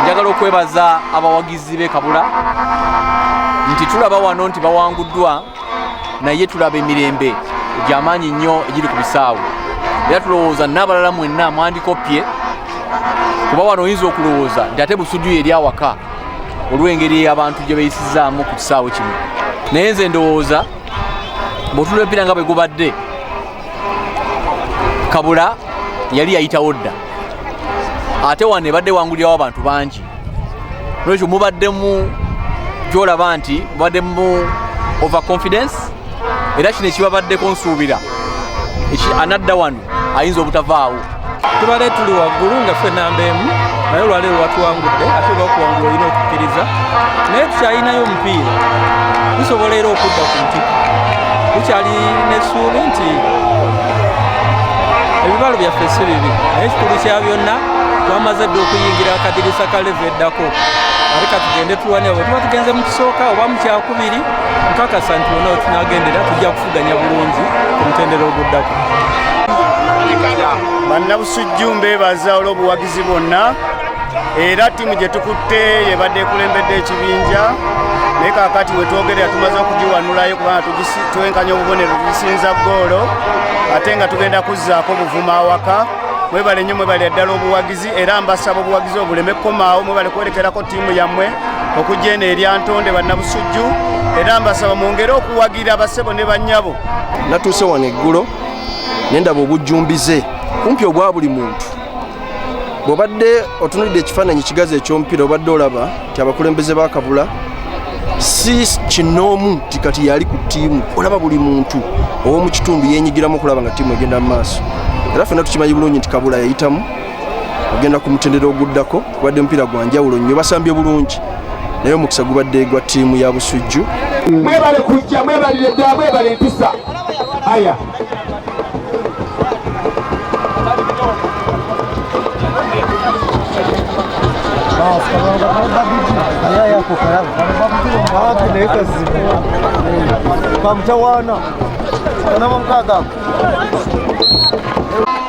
njagala okwebaza abawagizi be kabula nti tulaba wano nti bawanguddwa naye tulaba emirembe gyamaanyi nnyo egiri ku bisaawe era tulowooza n'abalala mwenna mwandikoppye kuba wano oyinza okulowooza nti ate busujuyo eri awaka olw'engeri abantu gye beyisizaamu ku kisaawe kino naye nze ndowooza bwetulempira nga bwe gubadde kabula yali yayitawo dda ate wano ebadde wangulirawo abantu bangi nolwekyo mubaddemu gyolaba nti mubaddemu over confidence era kino ekibabaddeko nsuubira anadda wano ayinza obutavaawo tubale tuli waggulu nga ffe namba emu naye olwaleero watuwangudde ate bakuwangula olina okukkiriza naye tukyalinayo omupiira tusobola era okudda ku ntikko tukyali n'essuubi nti ebibalo byaffe si bibi naye ekikulu kya byonna twamaze dde okuyingira akadirisa ka levu eddako ate katugende tulwanira bwe tuba tugenze mu kisooka oba mu kyakubiri nkakasa nti bona wetunagendera tujja kufu okuvuganya bulungi ku mutendera oguddako bannabusujju mbeebaza olw'obuwagizi bwonna era ttiimu gye tukutte yebadde ekulembedde ekibinja naye kakati wetwogerera tumaze okugiwanulayo kubanga twenkanya obubonero tugisinza goolo ate nga tugenda kuzzaako obuvuma awaka mwebale nnyo mwebale ddala obuwagizi era mbasaba obuwagizi obuleme kukomaawo mwebale kwerekerako ttiimu yammwe okugya eno erya ntonde bannabusujju era mbasaba mwongere okuwagi okubuulirira basebo ne bannyabo natuuse wano eggulo ne ndaba obujjumbize kumpi obwa buli muntu bw'obadde otunulidde ekifaananyi kigazi eky'omupiira obadde olaba nti abakulembeze bakabula si kinoomu nti kati yali ku ttiimu olaba buli muntu ow'omu kitundu yenyigiramu okulaba nga ttiimu egenda mu maaso era fena tukimanyi bulungi nti kabula yayitamu ogenda ku mutendera oguddako kubadde omupiira gwa njawulo nnyo basambye bulungi naye omukisa gubadde gwa ttiimu ya busujju mwebale kujja mwebalire ddala mwebale empisa aya kamutawana anamamkagaku